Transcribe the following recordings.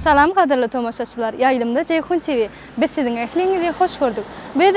Salam gadyrly tomaşaçylar Ýaýlymda Jeýhun TV Biz siziň ähliňizi hoş gördük. Biz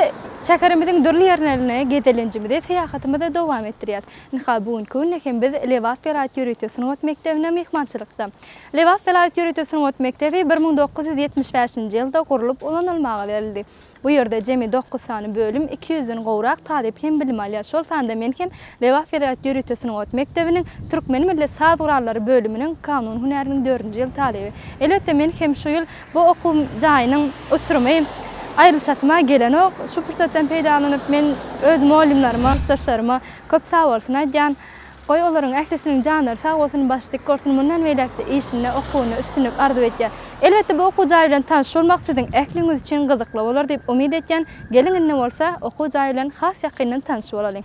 şäherimiziň dürli ýerlerine gezelenjimizi, syýahatymyzy dowam etdirýäs. Ynha, bu günki günde hem biz Lebap welaýat ýörite sungat mekdebine myhmançylykda. Lebap welaýat ýörite sungat mekdebi bir müň dokuz ýüz ýetmiş bäşinji ýylda gurlup ulanylmaga berildi. Bu ýerde jemi dokuz sany bölüm, iki ýüzden gowrak talyp hem bilim alýar. Şol sanda men hem Lebap welaýat ýörite sungat mekdebiniň Türkmen milli saz gurallary bölüminiň kanun hünäriniň dördünji ýyl talyby. Elbetde men hem şu ýyl bu okuw jaýynyň uçurymy aýrylyşasyma gelenok. Şu pursatdan peýdalanyp men öz mollimlerime, ustaşlaryma köp sagbolsun aýdýan. Goý olaryň ählisiniň janlary sag bolsun baş dik gorsun mundan beýläkde işinde okuwynda üstünlik arzuw etýän. Elbetde bu okuw jaýy bilen tanyşylmak siziň ähliňiz üçin gyzykly bolar diýip umyt etýän. Geliň indi bolsa okuw jaýy bilen has ýakyndan tanyş bolalyň.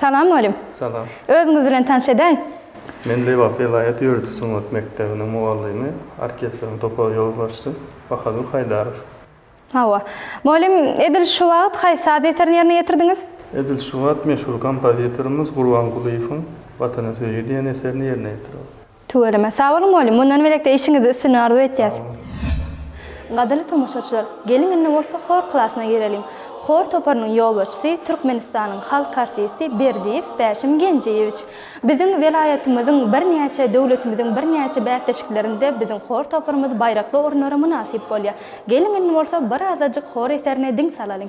Salam mugallym. Salam. Özüňiz bilen tanyş edäýiň. Men Lebap welaýat ýörite sungat mekdebiniň mugallymy, orkestriň topar ýolbaşçy Bahadur Haýdarow. Hawa. Mugallym, edil şu wagt haýsy saz eserini ýerine ýetirdiňiz? Edil şu wagt meşhur kompozitorymyz Gurbangulyýewiň Watana söýgi diýen eserini ýerine ýetirýäs. Tüweleme. Sag boluň mugallym. Mundan beýlekde işiňizde üstünlik arzuw etýäs. Sag boluň. Gadyrly tomaşaçylar, geliň indi bolsa hor klasyna gireliň. Hor toparynyň ýolbaşçysy Türkmenistanyň halk artisti Berdiýew Bäşim Genjeýewiç. Biziň welaýatymyzyň birnäçe, döwletimiziň birnäçe bäsleşiklerinde biziň hor toparymyz baýrakly orunlara mynasyp bolýar. Geliň indi bolsa bir azajyk hor eserine diň salalyň.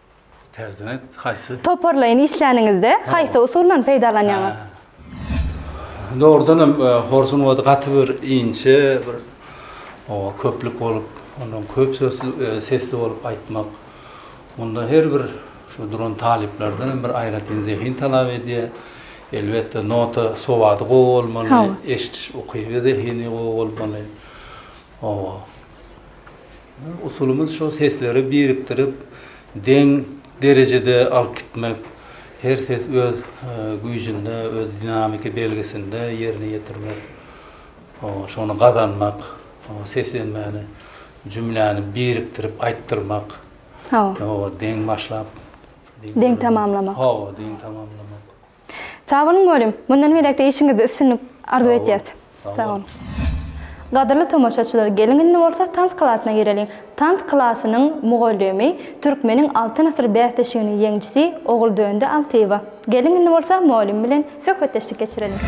Täzeden aýt, haýsy? Toparlaýyn işläniňizde haýsy usuldan peýdalanýaňyz? Dogrudan hem horsuň ody gaty bir inçe, bir oba köplük bolup, ondan köp sesli bolup aýtmak. Munda her bir şu duran talyplardan hem bir aýratyn zehin talap edýär. Elbetde, nota sowady gowy bolmaly, eşidiş ukyby, zehini gowy bolmaly. Hawa. Usulymyz şo sesleri birikdirip, deň derejede alyp gitmek, her ses öz güýjünde, öz dinamiki belgisinde ýerine ýetirmek, hawa, şony gazanmak, seslenmäni, jümläni birikdirip aýtdyrmak, hawa, deň başlap, deň tamamlamak, hawa, deň tamamlamak. Sag boluň Molym, mundan beýläk-de işiňizde üstünlik arzuw etýäs. Sag boluň. Gadyrly tomaşaçylar geliň indi bolsa tans klasyna gireliň. Tans klasynyň mugallymy Türkmeniň Altyn asyr bäsleşiginiň ýeňjisi Oguldöndi Altyýewa. Geliň indi bolsa molym bilen söhbetdeşlik geçireliň.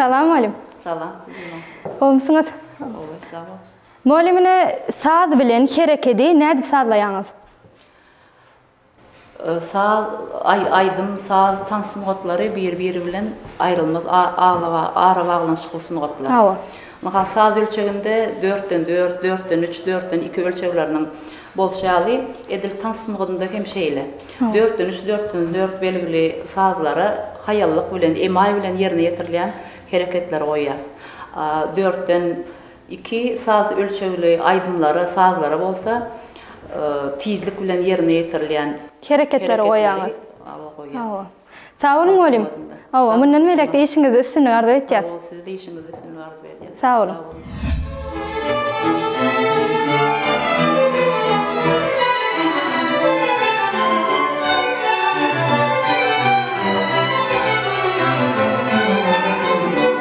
Salam mugallym. Salam. Gowumsyňyz? Gowy, sag bol. Mugallym ine saz bilen herekedi nädip sazlaýaňyz? Saz, aýdym, saz, tans sungatlary bir-biri bilen aýrylmaz arabaglanyşykly sungatlar. Hawa. Ynha, saz ölçeginde dörtden dört, dörtden üç, dörtden iki ölçegleriniň bolşy ýaly, edil tans sungatynda hem şeýle. Dörtden üç, dörtden dört belgili sazlara haýallyk bilen, emaý bilen ýerine ýetirilýän hereketleri goýýas. Dörtden Iki saz ölçegli aýdymlara, sazlara bolsa tizlik bilen ýerine ýetirilýän hereketleri goýýaňyz. Hawa. Sag boluň welin, hawa, mundan beýläk-de işiňizde üstünlik arzuw etýäs. Sag boluň, size-de işiňizde üstünlik arzuw edýäs. Sag boluň.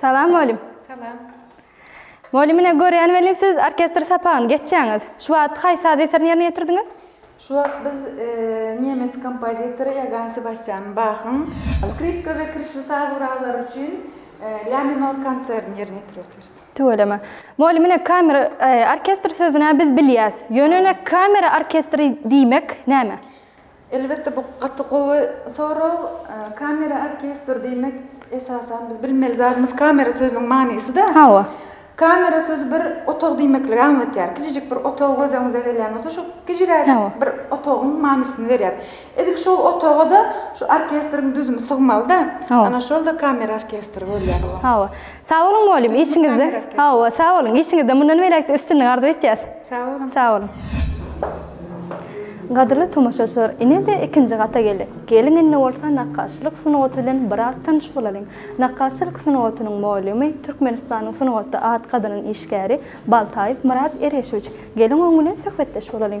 Salam mugallym. Salam. Mugallym ine görýän welin siz orkestr sapagyny geçýäňiz. Şu wagt haýsy saz eserini ýerine ýetirdiňiz? Şu wagt biz nemes kompozitory Ýogann Sebastýan Bahyň skripka we kirişli saz gurallary üçin lə minor konsertini ýerine ýetirip otyrys. Tüweleme. Mugallym ine kamer orkestr sözüni-ä biz bilýäs. Ýöne ine kamera orkestri diýmek näme? Elbetde bu gaty gowy sorag. Kamera orkestr diýmek esasan biz bilmeli zadymyz kamera sözüniň manysyda. Hawa. Kamera sözi bir otag diýmekligi aňlatýar. Kiçijik bir otag göz öňüňize gelýän bolsa şu kiciräjik bir otagyň manysyny berýär. Edil şol otaga-da şu orkestriň düzümi sygmalyda. Hawa. Ana şol-da kamera orkestri bolýar. Hawa. Sag boluň mugallym işiňizde hawa sag boluň işiňizde mundan beläkde üstünlik arzuw etýäs. Sag boluň. Sag boluň. Gadyrly tomaşaçylar ine-de ikinji gata geldik. Geliň indi bolsa nakgaşçylyk sungaty bilen biraz tanyş bolalyň. Nakgaşçylyk sungatynyň mugallimy Türkmenistanyň sungatda at gazanan işgäri Baltaýew Myrat Ereşowiç. Geliň oň bilen söhbetdeş bolalyň.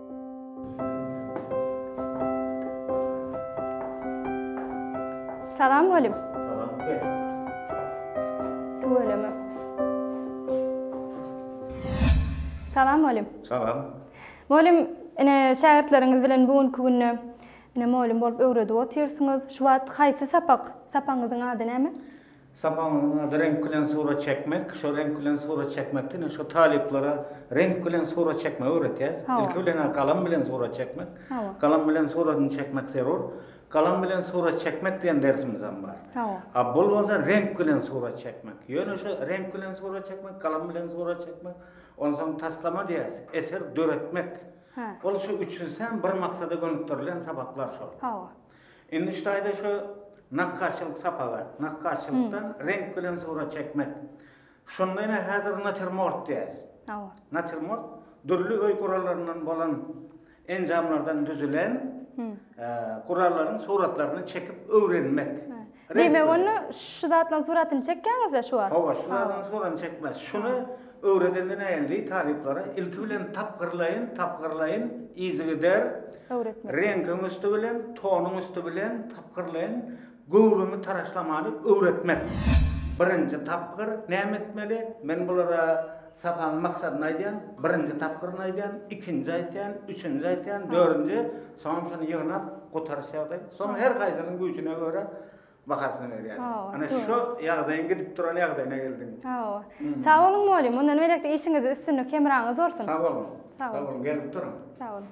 Salam Golim. Salam Gel. Tüweleme. Salam Golim. Salam. Golim, ine şägirtleriňiz bilen bu günki günde ine mugallym bolup öwredip otyrsyňyz. Şu wagt haýsy sapak? Sapagyňyzyň ady näme? Sapagyň ady Reňk bilen surat çekmek. Şo reňk bilen surat çekmek diýende şo talyplara reňk bilen surat çekmegi öwretýäs. Ilki bilen-ä galam bilen surat çekmek. Galam bilen suradyny çekmek zerur. Galam bilen surat çekmek diýen dersimizem bar. A bul bolsa reňk bilen surat çekmek. Ýöne şo reňk bilen surat çekmek, galam bilen surat çekmek, onsoň taslama diýýäs, eser döretmek. Ol şu üçüsem bir maksada gönükdirilen sapaklar şol. Indi şu taýda şu nakgaşçylyk sapagy, nakgaşçylykdan reňk bilen surat çekmek. Şonda ine häzir natirmort diýäs. Hawa. Natirmort dürli öý gurallaryndan bolan enjamlardan düzülen gurallaryň suratlaryny çekip öwrenmek. Diýmek onda şu zatlaryň suratyny çekýäňizda şu wagt? Hawa şu zatlaryň suratyny çekmez. Şuny öwredende näin diý talyplara ilki bilen tapgyrlaýyn tapgyrlaýyn yzygider öwretmeli. Reňkiň üsti bilen tonuň üsti bilen tapgyrlaýyn göwrümi taraşlamany öwretmek. Birinji tapgyr näme etmeli? Men bulara sapagyň maksadyny aýdýan, birinji tapgyryny aýdýan, ikinji aýtýan, üçünji aýtýan, dördünji. Sonçuny ýygnap gutarşydy. Soň her haýsynyň güýjüne görä bahasyny berýäs. Ana şu ýagdaýyň gidip duran ýagdaýyna geldiň. Hawa. Sag boluň Moli, mundan beýläk-de işiňizde üstünlik, hemraňyz bolsun. Sag boluň. Sag boluň, gelip duruň. Sag boluň.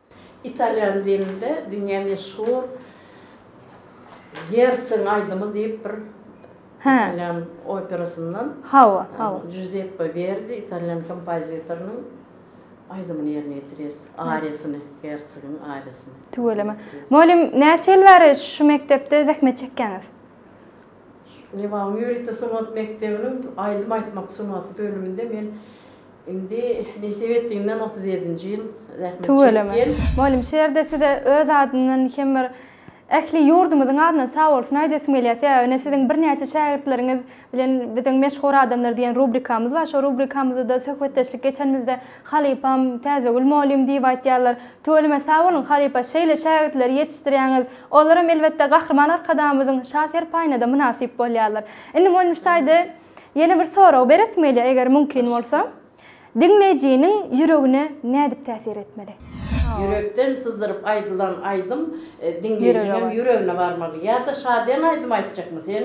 Italýan dilinde dünýä meşhur Ýertsiň aýdymy diýip bir italýan operasyndan Hawa, hawa. Juzeppe Werdi italýan kompozitorynyň aýdymyny ýerine ýetirýäs. Ariýasyny, Ýertsigiň ariýasyny. Tüweleme. Mugallym, näçe ýyl bäri şu mekdepde zähmet çekýäňiz? Liwanyň ýörite sungat mekdebiniň aýdym aýtmak sungaty bölüminde men indi nesip etdiginden otuz ýedinji ýyl zähmet çekip Tüweleme. Mugallym şu ýerde size öz adymdan hem bir ähli ýurdumyzyň adyndan sagbolsun aýdasym gelýär. Sebäbi ine siziň birnäçe şägirtleriňiz bilen biziň Meşhur adamlar diýen rubrikamyz bar. Şo rubrikamyzda-da söhbetdeşlik geçenimizde Halypam, Täzegül molym diýip aýtýarlar. Tüweleme sag boluň, halypa, şeýle şägirtleri ýetişdirýäňiz. Olaram, elbetde, Gahryman Arkadagymyzyň şa serpaýyna-da mynasyp bolýarlar. Indi Molym ştaýda ýene bir sorag beresim gelýär, eger mümkin bolsa. Diňleýjiniň ýüregine nädip täsir etmeli? Ýürekden syzdyryp aýdylan aýdym diňleýjiňem ýüregine barmaly. Ýa-da şadyýan aýdym aýtjakmy sen?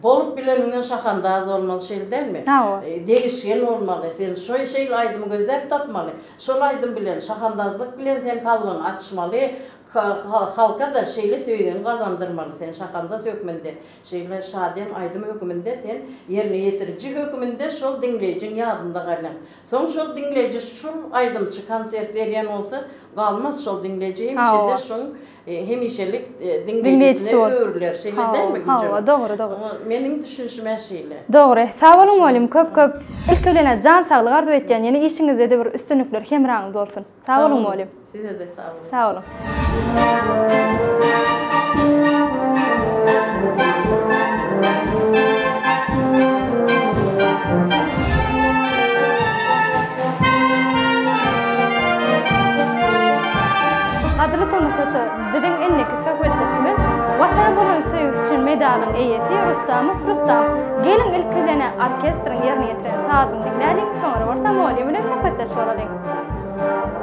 Bolup bileniňden şahandaz bolmaly şeýle dälmi? Sag bol. Degişgen bolmaly. Sen şoý şeýle aýdymy gözläp tapmaly. Şol aýdym bilen, şahandazlyk bilen sen kalbyňy açmaly. Halka-da şeýle söýgiňi gazandyrmaly. Sen şahandaz hökmünde, şeýle şadyýan aýdym hökmünde sen ýerine ýetiriji hökmünde şol diňleýjiň ýadynda galyň. Soň şol diňleýji şul aýdymçy konsert berýän bolsa galmaz şol diňleýji hemişe-de şuň hemişelik diňleýjisine öwrüler, şeýle dälmi Gülje? Hawa, dogry, dogry. Meniň düşünişim-ä şeýle. Dogry. Sag boluň mugallym, köp-köp. Ilki bilen jan saglyk arzuw etýän, ýene işiňizde-de bir üstünlikler hemraňyz bolsun. Sag boluň mugallym. Size-de sag boluň. Sag boluň. Gadyrly tomaşaçy, biziň indiki söhbetdeşimiz Watana bolan söýgüsi üçin medalyň eýesi Rustamow Rustam. Geliň ilkidene orkestriň ýerine ýetiren sazyny diňläliň, soňra bolsa Moliýa bilen söhbetdeş bolalyň.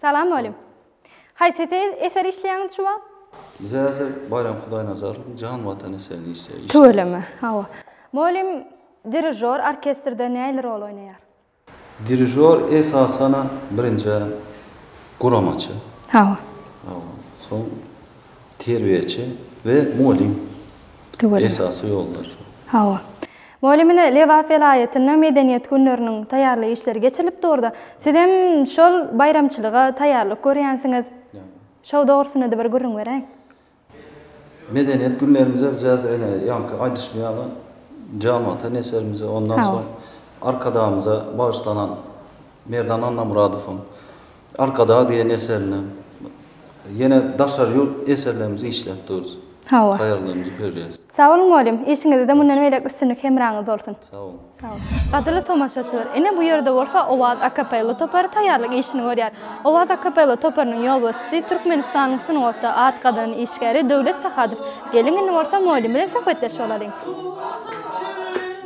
Salam mugallym. Haýsy eseri işleýäňiz şu wagt? Biz häzir Baýram Hudaýnazarowyň Jan Watan eserini işleýäris. Tüweleme, hawa. Mugallym, dirižýor orkestrde nähili rol oýnaýar? Dirižýor esasan birinjä guramaçy. Hawa. Hawa. Soň terbiýeçi we mugallym. Tüweleme. Esasy ýollar şol. Hawa. Mugallymyna Lebap welaýatynda Medeniýet günleriniň taýýarlyk işleri geçirilip durdy. Sizem şol baýramçylyga taýýarlyk görýänsiňiz. Şo dogrusynada bir gürrüň beräý. Medeniýet günlerimize biz ene ýaňky aýdyşym ýaly Jam ata neşirimize ondan soň Arkadagymyza bagyşlanan Merdan Annamyradowyň Arkadag diýen eserine ýene daşary ýurt eserlerimizi işläp durus. Hawa. Taýýarlarymyzy berýäs. Sag boluň mugallym, işiňizde mundan beýläk üstünlik hemraňyz bolsun. Sag boluň. Sag boluň. Gadyrly tomaşaçylar, ine bu ýerde bolsa Owaz akapella topary taýýarlyk işini görýär. Owaz akapella toparynyň ýolbaşçysy, Türkmenistanyň sungatda at gazanan işgäri Döwlet Sahadow. Geliň indi bolsa mugallym bilen söhbetdeş bolalyň.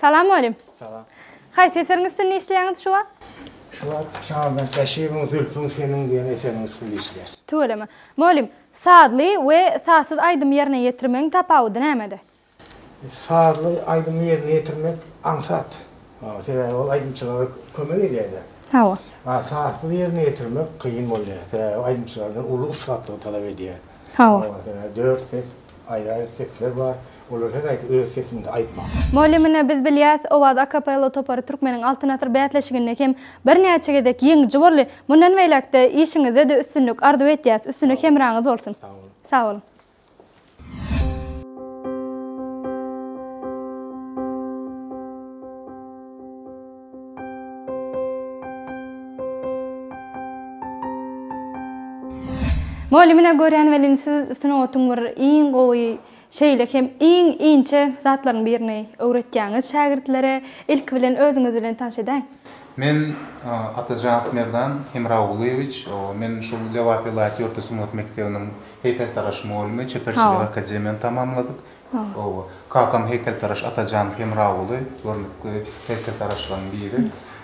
Salam mugallym. Salam. Haýsy eseriň üstünde işleýäňiz şu wagt? Şu wagt Şaban Käşibiň Zülpüň seniň diýen eseriň üstünde işleýäs. Tüweleme. Mugallym, sazly we sazsyz aýdymy ýerine ýetirmegiň tapawudy nämede? Sazly aýdymy ýerine ýetirmek aňsat. Sebäbi ol aýdymçylara kömek edýär-de. Hawa. A sazsyz ýerine ýetirmek kyn bolýar. Sebäbi aýdymçylardan uly ussatlygy talap edýär. Hawa. Hawa senä dört ses, aýraýyr sesler bar. Olar her haýsy öz sesinde aýtmaly. Mugallymyna biz bilýäs, Owaz akapella topary Türkmeniň Altyn asyr bäsleşiginde hem birnäçe gezek ýeňiji boldy. Mundan beýläk-de işiňizde-de üstünlik arzuw etýäs. Üstünlik hemraňyz bolsun. Sag boluň. Sag boluň. Mugallym ine görýän welin siz sungatyň bir iň gowy şeýle hem iň inçe zatlaryň birini öwretýäňiz şägirtlere. Ilki bilen özüňiz bilen tanyş edäýiň. Men Atajanow Merdan Hemragulyýewiç. Men şul Lebap welaýat ýörite sungat mekdebiniň heýkeltaraş mugallymy, çeperçilik akademiýany tamamladyk. Hawa. Kakam heýkeltaraş Atajan Hemraguly görnükli heýkeltaraşlaryň biri.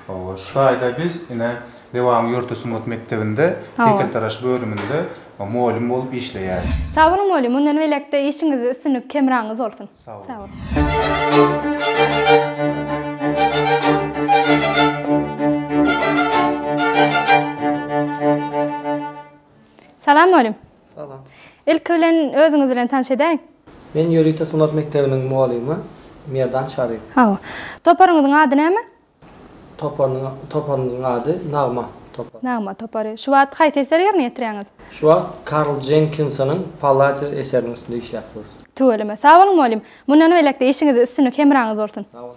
Hawa. Şu taýda biz ine Lebanyň ýörite sungat mekdebinde heýkeltaraş bölüminde mugallym bolup işleýäris. Sag boluň mugallym, mundan beýläk-de işiňizde üstünlik hemraňyz bolsun. Sag boluň. Salam mugallym. Salam. Ilki bilen özüňiz bilen tanş edäýiň. Men ýörite sungat mekdebiniň mugallymy Merdan Çaryýew. Hawa. Toparyňyzyň ady näme? Toparynyň toparymyzyň ady Nagma topary. Nagma topary. Şu wagt haýsy eseri ýerine ýetirýäňiz? Şu wagt Karl Jenkinsonyň Palladio eseriniň üstünde işläp durus. Tüweleme. Sag boluň mugallym. Mundan beýläk-de işiňizde üstünlik hemraňyz bolsun. Sag boluň.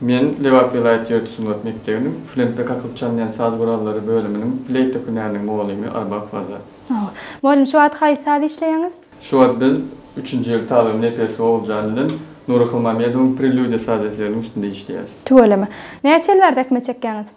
Men Lebap welaýat ýörite sungat mekdebiniň Flenpek akyp çalynýan saz gurallary bölüminiň fleýta hünäriniň mugallymy Arbap Waza. Mugallym şu wagt haýsy saz işleýäňiz? Şu wagt biz üçünji ýyl talyby Nepes Oguljan bilen Nury Hylmamedowyň Prelýudiýa saz eseriniň üstünde işleýäris. Tüweleme. Näçe ýyl bäri däkme çekýäňiz?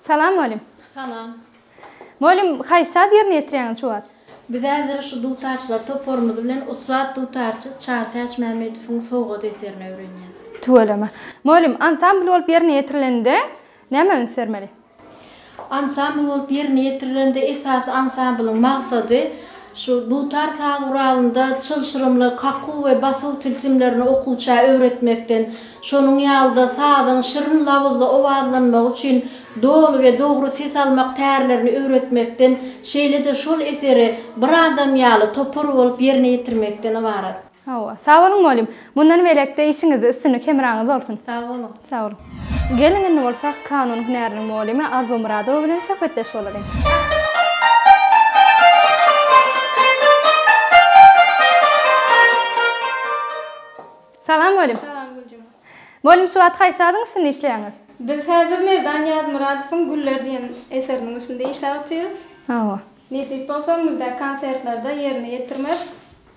Salam mugallym. Salam. Mugallym haýsy saz ýerine ýetirýäňiz şu wagt? Biz häzir şu dutarçylar toparymyz bilen ussat dutarçy Çartäç Mämmedowyň Sowgat eserini öwrenýäs. Tüweleme. Mugallym, ansambl bolup ýerine ýetirilende nämä üns bermeli? Ansambl bolup ýerine ýetirilende esasy ansamblyň maksady Şu dutar saz guralynda çylşyrymly kakuw we basuw tilsimlerini okuwça öwretmekden, şonuň ýaly-da sazyň şirin labyzly owazlanmagy üçin doly we dogry ses almak tärlerini öwretmekden, şeýle-de şol eseri bir adam ýaly, topar bolup ýerine ýetirmekden ybarat. Hawa. Sag boluň mugallym. Mundan beýläk-de işiňizde üstünlik hemraňyz bolsun. Sag boluň. Sag boluň. Geliň indi bolsa kanun hünäriniň mugallymy Arzuw Myradowa bilen söhbetdeş bolalyň. Salam mugallym. Salam Güljuma. Mugallym şu wagt haýsy adyň üstünde işleýäňiz? Biz häzir Merdan Ýazmyradowyň Güller diýen eseriniň üstünde işläp otyrys. Hawa. Nesip bolsa öňümizdäki konsertlerde ýerine ýetirmek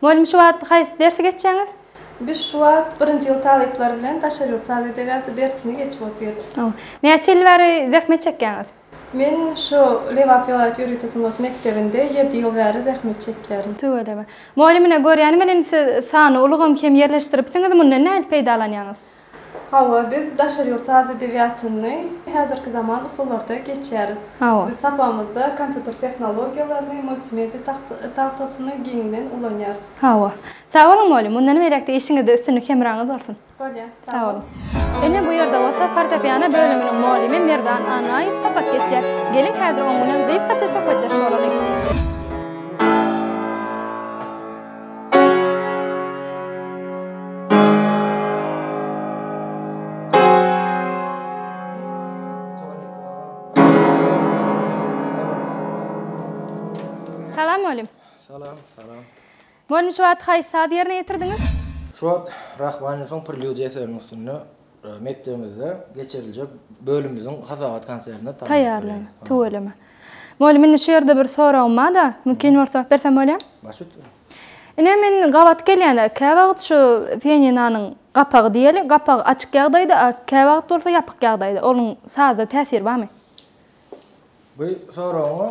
Mugallym şu wagt haýsy dersi geçýäňiz? Biz şu wagt birinji ýyl talyplary bilen daşary ýurt saz edebiýaty dersini geçip otyrys. Näçe ýyl bäri zähmet çekýäňiz? Men şu Lebap welaýat ýörite sungat mekdebinde ýedi ýyl bäri zähmet çekýärin. Tüweleme. Mugallym ine görýänim bilen siz sany ulgam hem ýerleşdiripsiňiz, mundan nädip peýdalanýaňyz? Hawa, biz daşary ýurt saz edebiýatyny häzirki zaman usullarda geçýäris. Biz sapagymyzda kompýuter tehnologiýalaryny, multimediýa tagtasyny giňden ulanýarys. Hawa. Sag boluň mugallym, mundan beýläk-de işiňizde üstünlik hemraňyz bolsun. Bolýa, sag bol. Ine, bu ýerde bolsa fortepiano bölüminiň mugallymy Merdan Annaýew sapak geçýär. Geliň, häzir oň bilen gysgaça söhbetdeş bolalyň. Mugallim şu wagt haýsy sazy ýerine ýetirdiňiz? Şu wagt Rahmaninowyň Prelýudiýa eseriniň üstünde Mekdebimizde geçiriljek bölümimiziň hasabat konsertine taýýarlan. Tüweleme. Mugallym, indi şu ýerde bir soragym bar-da, mümkin bolsa, bersem bolýamy? Baş üstüne. Ine, men gabat gelýän-ä, käwagt şu pianinonyň gapagy diýeli, gapagy açyk ýagdaýda, a käwagt bolsa ýapyk ýagdaýda. Onuň saza täsiri barmy? Bu soragyňa,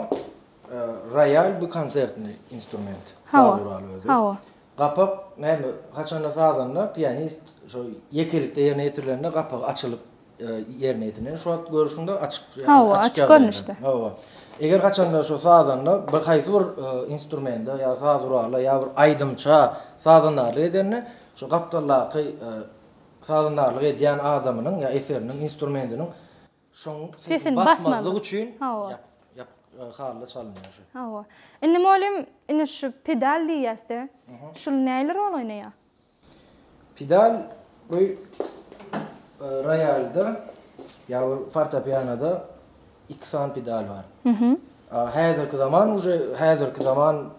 roýal bu konsertni instrument, saz guraly özi. Hawa. Gapak näme haçanda sazanda pianist şo ýekelikde ýerine ýetirilende gapak açylyp ýerine ýetirilýär. Şu wagt görüşiňde açyk Hawa, açyk görnüşde. Hawa. Eger haçanda şo sazanda bir haýsy bir instrumenta ýa saz gurala ýa bir aýdymça sazandarlyk edende şo gapdaldaky sazandarlyk edýän adamynyň ýa eseriniň instrumentiniň Şoň sesini basmazlyk üçin ýapyk hally çalynýar şu. Hawa. Indi mugallym, indi şu pedal diýýäs-de. Şul nähili rol oýnaýar? Pedal bu roýalda ýa fortepianoda iki sany pedal bar. Häzirki zaman uje häzirki zaman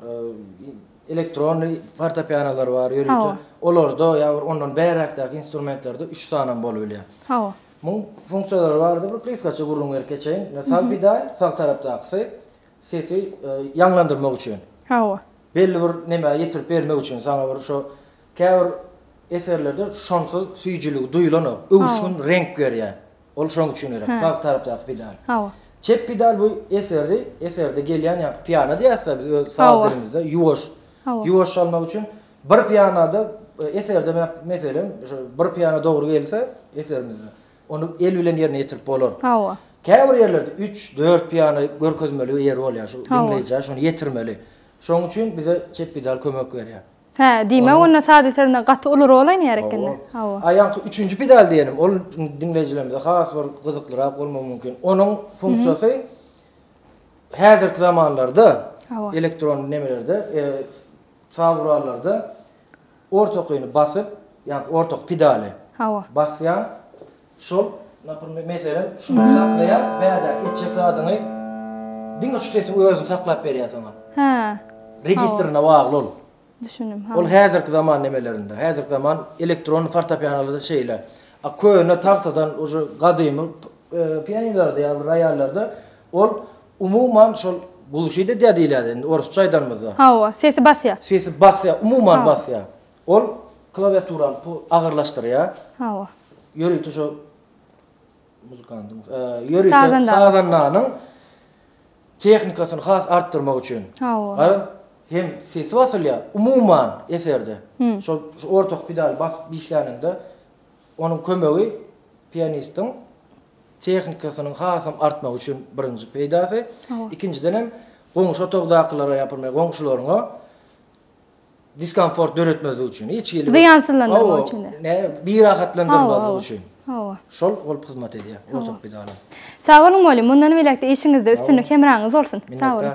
elektronny fortepianolar bar ýörite. Olarda ýa bir ondan bäräkdäki instrumentlerde üç sanam bolup bilýär. Hawa. Muň funksiýalary bardy bir gysgaça gürrüň berip geçeýin. Ine sag pidaý, sag tarapdakysy sesi ýaňlandyrmak üçin. Hawa. Belli bir nämä ýetirip bermek üçin saňa bir şo käbir eserlerde şonsyz süýjüligi duýulanok. Öwüşgin reňk berýär. Ol şoň üçin gerek. Sag tarapdaky pidaý. Hawa. Çep pidaý bu eserdi, eserde gelýän ýa piano diýäsda biz öz saz dilimizde ýuwaş. Hawa. Ýuwaş çalmak üçin Bir piýanada eserde me meselem, şu bir piýana dogry gelse eserimizde, ony el bilen ýerine ýetirip bolar. Hawa. Käbir ýerlerde üç, dört piýana görkezmeli ýeri bolýar, şu diňleýjä şony ýetirmeli. Şonuň üçin bize Çepbidal kömek berýär. Hä, diýmek, onda saz eserinde gaty uly rol oýnaýar ekeni. Hawa. A ýaňky üçünji pidal diýenim, ol diňleýjilerimize has bir gyzyklyrak bolmagy mümkin. Onuň funksiýasy häzirki zamanlarda, elektron nemelerde, Saz gurallarda orta okyny basyp, ýagny orta ok pedaly. Hawa. Basýaň. Şol, naprmer, meselem, şuny saklaýaň, bärdäki etjek zadyňy diňe şu sesiň özüni saklap berýär saňa. Hä. Registrine bagly ol. Düşündim, hawa. Ol häzirki zaman nemelerinde, häzirki zaman elektron fortepianolarda şeýle. A köne tagtadan uje gadymy pianinolarda ýa-da roýallarda ol Umuman şol gulşyt edýär diýilýärdi indi orsça aýdanymyzda. Hawa, sesi basýar. Sesi basýar, umuman basýar. Ol klawiaturany pu agyrlaşdyrýar. Hawa. Ýörite şo muzykantym, ýörite Sazandanyň. sazandanyň tehnikasyny has artdyrmak üçin. Hawa. Garaz, hem sesi basylýar, umuman eserde. Şol ortaky pedaly basyp işläniňde onuň kömegi pianistiň tehnikasynyň hasam artmagy üçin birinji peýdasy, ikinjiden hem goňşy otagdakylara ýapylmaýar, goňşularyňa diskomfort döretmezlik üçin, hiç hili Zyýansyzlandyrmak üçin. Hawa, birahatlandyrmazlyk üçin. Hawa. Şol bolup hyzmat edýär, ortopediýa alan. Sag boluň mugallym, mundan beýläk-de işiňizde üstünlik, hemraňyz bolsun. Sag boluň.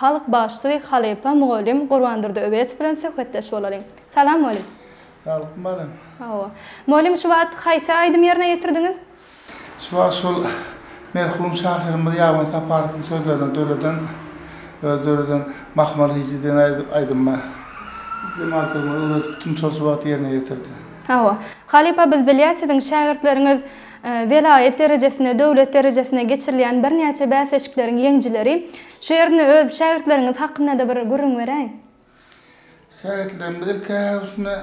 Halk bagşysy, halypa, mugallym Gurbandurdy Öwezow bilen söhbetdeş bolalyň. Salam, mugallym! Saglyk balam! Hawa. Mugallym, şu wagt haýsy aýdymy ýerine ýetirdiňiz? Şu wagt şol merhum şahyrymyz Ýaban Saparowyň sözlerine döreden, özi döreden Mahmal hije diýen aýdymy jemaatçylygymyza öwredipdim, şol şu wagt ýerine ýetirdi. Hawa. Halypa, biz bilýäs, siziň şägirtleriňiz welaýat derejesinde, döwlet derejesinde geçirilýän birnäçe bäsleşikleriň ýeňijileri. Şu ýerinde öz şägirtleriňiz hakyndada bir gürrüň beräýiň. Şägirtlerimiz ilki-ä üstüne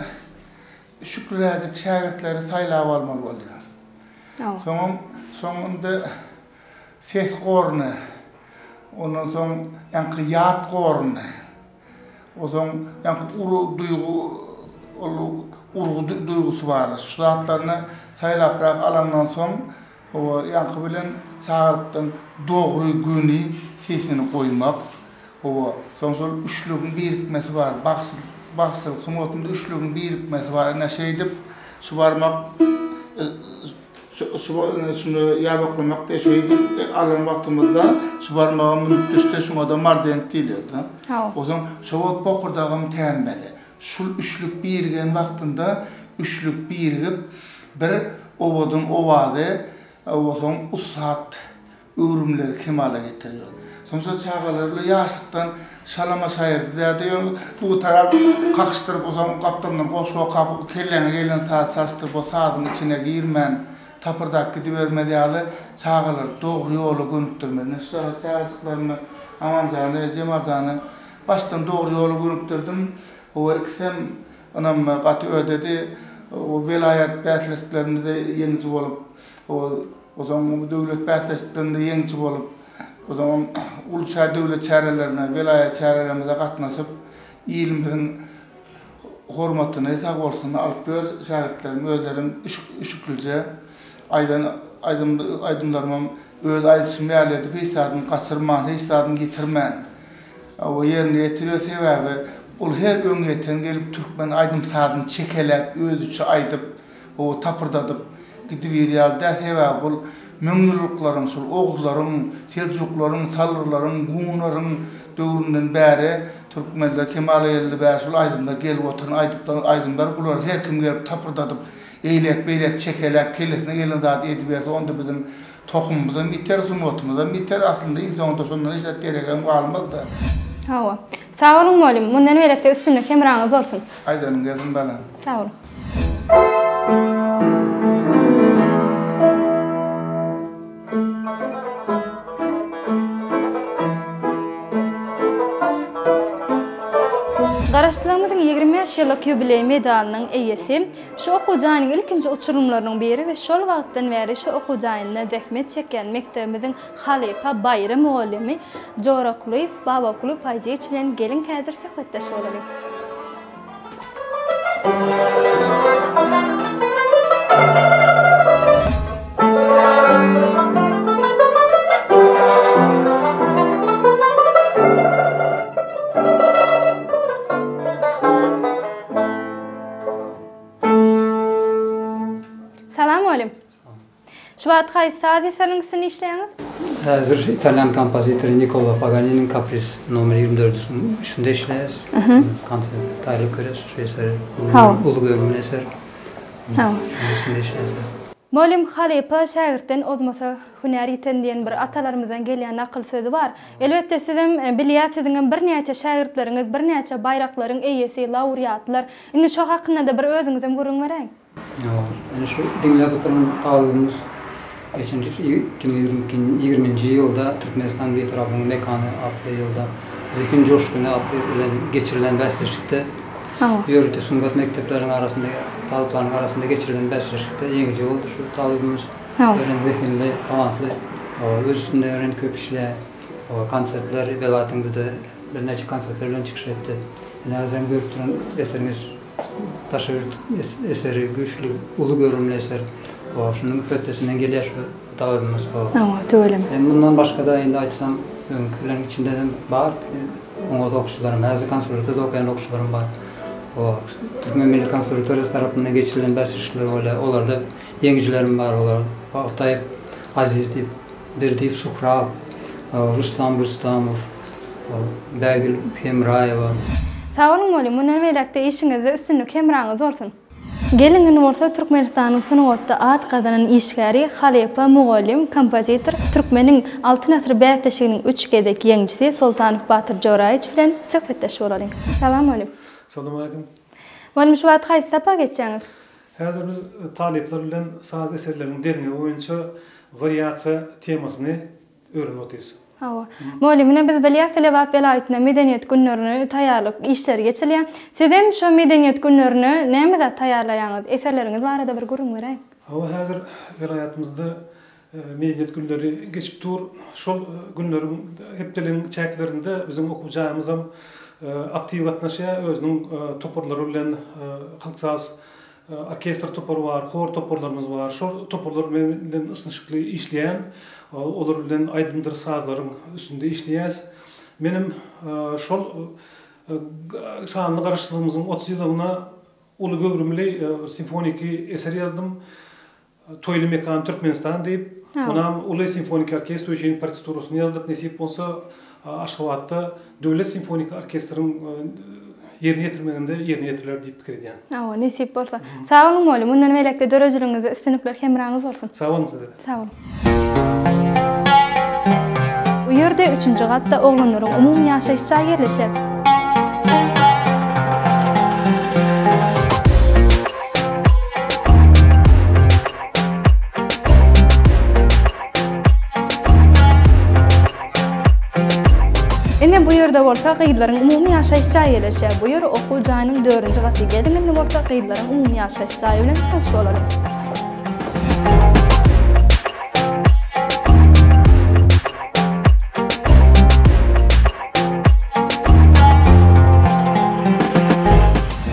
üşükliräjik şägirtleri saýlap almaly bolýar. Hawa. Soňam, soň indi ses goruny, ondan soň ýaňky ýat goruny, Onsoň ýaňky uly duýgy ol urgy duýgusy bar. Şu zatlaryny saýlaprak alaňdan soň, hawa, ýaňky bilen çagalykdan dogry göni sesini goýmak, hawa, soň şol üçlügiň birikmesi bar. Bagşyçylyk sungatynda üçlügiň birikmesi bar. Ine, şeýdip, şubarmak Şu yşba indi şunda ýabaklamak diýe şeýdip alan wagtymyzda şu barmagam münüp düşse şuňada mardent diýilýärdi. Haw. Ozan şo wagt bokurdagym tänmeli. Şul üçlük birigen wagtynda üçlük birigip bir owadan owazy owasaň ussat Öwrümleri kemala getirýär. Soňsa çagalar-la ýaşlykdan şalama şaýyrdy däde, ýöne bu gitara kakyşdyryp, otagyň gapdalyndan goşgy okap, kelläňe gelen sazy çalyşdyryp, o sazyň içine girmän, tapyrdap gidibermez ýaly, çagalary dogry ýola gönükdirmeli. Ine, şu çagajyklarymy, Amanjany, Jemaljany başdan dogry ýola gönükdirdim. Hawa, ikisem ynam gaty ödedi. Welaýat bäsleşiklerinde-de ýeňiji bolup. Ol o zaman bu döwlet bäsleşiklerinde ýeňiji bolup, o zaman uly çä döwlet çärelerine, welaýat çärelerimize gatnaşyp, ilimiziň hormatyny, sag bolsun, alyp ýör. Şägirtlerim, özlerim üşüklije aýdan aýdym aýdymlarymam öz aýdyşym ýaly edip, hiç zadyny gaçyrman, hiç zadyny ýitirmän, we ýerine ýetirýär. Sebäbi ol her öňe ýeten gelip türkmen aýdym-sazyny çekeläp, özüçe aýdyp, Gowy tapyrdadyp gidibiýr ýaly däl, sebäbi bul müňýyllyklaryň, şol oguzlaryň, seljuklaryň, salyrlaryň, gunlaryň döwründen bäri türkmenler kemala geldi bäri şol aýdymlar gelip oturan aýdyplar aýdymlar bular her kim gelip tapyrdadyp eýlek beýlek çekeläp kellesine gelen zady ediberse onda biziň tohumymyzam ýiter sungatymyzam ýiter aslynda iň soňunda şondan hiç zat deregem galmazda. Hawa. Sag boluň mugallym, mundan berekde üstünlik hemraňyz bolsun. Aýdanyň gelsin balam. Sag boluň. Garaşsyzlygymyzyň ýigrimi bäş ýyllyk ýubileý medalynyň eýesi, şu okuw jaýynyň ilkinji uçurymlarynyň biri we şol wagtdan bäri şu okuw jaýynda zähmet çekýän mekdebimiziň Halypa Baýram mugallymy Jorakulyýew Babakuly Paýzyýeç bilen geliň häzir söhbetdeş bolalyň. Şu wagt haýsy saz eseriniň üstünde işleýäňiz? Häzir italýan kompozitory Nikkolo Paganiniň Kapris nomer ýigrimi dördüsiniň üstünde işleýäs. Konsert aýlyk görýäs şu eseri. Uly göwünli eser. Şonuň üstünde işleýäs häzir. Mugallym halypa şägirtden ozmasa hünär ýiten diýen bir atalarymyzdan gelýän nakyl sözi bar. Elbetde sizem bilýäs siziňem birnäçe şägirtleriňiz birnäçe baýraklaryň eýesi, laureatlar. Indi şo hakynda-da bir özüňizem gürrüň beräýiň. Ene şu diňläp oturan talybymyz geçenji şu iki müň ýigriminji ýylda Türkmenistan Bitaraplygyň mekany atly ýylda Zehin joşguny atly bilen geçirilen bäsleşikde ýörite sungat mekdepleriniň arasynda talyplaryň arasynda geçirilen bäsleşikde ýeňiji boldy şu talybymyz örän zehinli talantly öz üstünde örän köp işleýär konsertler belatyň bir de birnäçe konsertler bilen çykyş etdi ene özüňiz görüp duran eseriňiz Daşy ýurt eseri güýçli uly görümli eser. Ho şunuň hötdesinden gelýär şu dagydymyz ho. Hawa tüweleme. Hem mundan başgada indi aýtsam öňkileriň içindedem bar oňat okyjylarym häzir konserwatoriýada okaýan okyjylarym bar. Ho türkmen milli konserwatoriýasy tarapyndan geçirilen bäsleşikler bolýar olarda ýeňijilerim bar olar Baltaýew Aziz diýip Berdiýew Suhrab Rustam Rustamow Bägül Hemraýewa. Sag boluň Molly, mundan beýläk-de işiňizde üstünlik hemraňyz bolsun! Gelin güni bolsa Türkmenistanyň sungatda at gazanan işgäri, halypa, mugallym, kompozitor, Türkmeniň Altyn asyry bäsleşiginiň üç gezek ýeňijisi Soltanow Batyr Joraýewiç bilen söhbetdeş bolalyň. Salam Molly! Salam aleýkum! Molly şu wagt haýsy sapag geçýäňiz? Häzir biz talyplar bilen saz eserleriniň derňewi boýunça wariasiýa temasyny Örin otys. Hawa. Moli, muny biz bilýäs, Lebap welaýatynda Medeniýet günlerine taýýarlyk işleri geçilýär. Sizem şo Medeniýet günlerine näme zat taýýarlaýaňyz? Eserleriňiz barada bir gürrüň beräýiň. Hawa, häzir welaýatymyzda Medeniýet günleri geçip dur. Şol günleriň hepdeligiň çäklerinde biziň okuw jaýymyzam aktiw gatnaşýar, özüniň toparlary bilen halk saz Orkestr topary bar, hor toparlarymyz bar. Şol toparlar bilen ysnyşykly işleýän. Olar bilen aýdymdyr sazlaryň üstünde işleýäs. Menem şol şanly Garaşsyzlygymyzyň otuz ýyllygyna uly göwrümli simfoniki eser ýazdym. Toýly mekan Türkmenistan diýip, munam uly simfoniki orkestr üçin partiturasyny ýazdyk. Nesip bolsa, Aşgabatda Döwlet simfoniki orkestriň ýerine ýetirmeginde ýerine ýetiriler diýip pikir edýän. Hawa, nesip bolsa. Sag boluň, mugallym. Mundan beýläk-de döredijiligiňizde üstünlikler hemraňyz bolsun. Sag boluň size-de. Sag boluň. Bu ýerde üçünji gatda oglanlaryň umumy ýaşaýyş jaýy ýerleşer. Ine bu ýerde bolsa gyzlaryň umumy ýaşaýyş jaýy ýerleşýär. Bu ýer okuw jaýynyň 4-nji gaty. Geliň indi bolsa gyzlaryň umumy ýaşaýyş jaýy bilen tanyş bolalyň.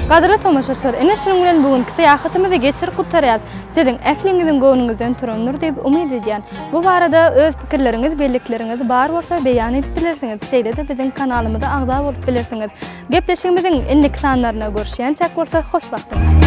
Gadyrly tomaşaçylar, ene şunuň bilen bu günki syýahatymyzy geçirip gutarýarys. Siziň ähliňiziň göwnüňizden turandyr diýip umyt edýän. Bu barada öz pikirleriňiz, bellikleriňiz bar bolsa beýan edip bilersiňiz. Şeýle-de biziň kanalymyza agza bolup bilersiňiz. Gepleşigimiziň indiki sanlarynda görüşýänçäk bolsa hoş wagtyňyz.